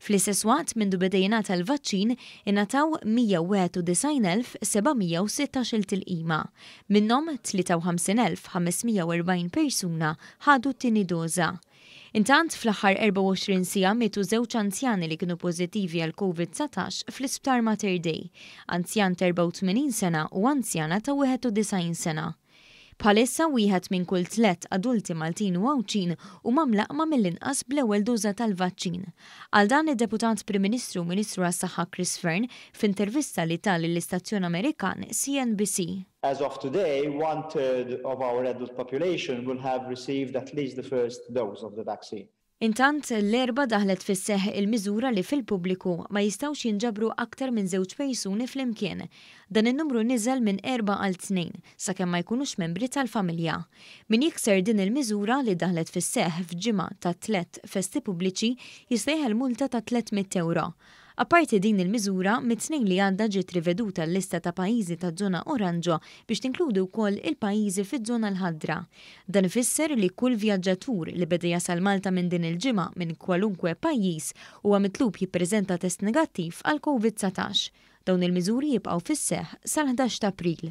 Fl-istess waqt, mindu beda jingħata l-vaċċin, ingħataw 191,716-il tilqima. Minnhom, 53,540 persuna ħadu t-tieni doża. Intant, fl-aħħar 24 siegħa mietu żewġ anzjani li kienu pożittivi għal Covid 19 fl-Isptar Mater Dei, anzjan ta' 84 sena u anzjana ta' 91 sena. Bħalissa wieħed minn kull tlett adulti Maltin u Għawdxin huma mlaqqma mill-inqas bl-ewwel doża tal-vaċċin. Għal dan id-Deputat Prim Ministru u Ministru għas-Saħħa Chris Fearne f'intervista li ta lill-istazzjon Amerikan CNBC. As of today, one third of our adult population will have received at least the first dose of the vaccine. Intant, l-Erbgħa daħlet fis-seħħ il-miżura li fil-pubbliku ma jistgħux jinġabru aktar minn żewġ persuni flimkien. Dan in-numru niżel minn erbgħa għal tnejn, sakemm ma jkunux membri tal-familja. Min jikser din il-miżura, li daħlet fis-seħħ f'ġimgħa ta' tliet festi pubbliċi, jistejħel multa ta' 300 ewro. Apparti din il-miżura, mit-Tnejn li għadda ġiet riveduta l-lista ta' pajjiżi taż-żona oranġo biex tinkludi wkoll il-pajjiżi fiż-żona l-ħadra. Dan ifisser li kull vjaġġatur li beda jasal Malta minn din il-ġimgħa minn kwalunkwe pajjiż huwa mitlub jippreżenta test negattiv għal Covid 19. Dawn il-miżuri jibqgħu fis-seħħ sal-ħdax t'April.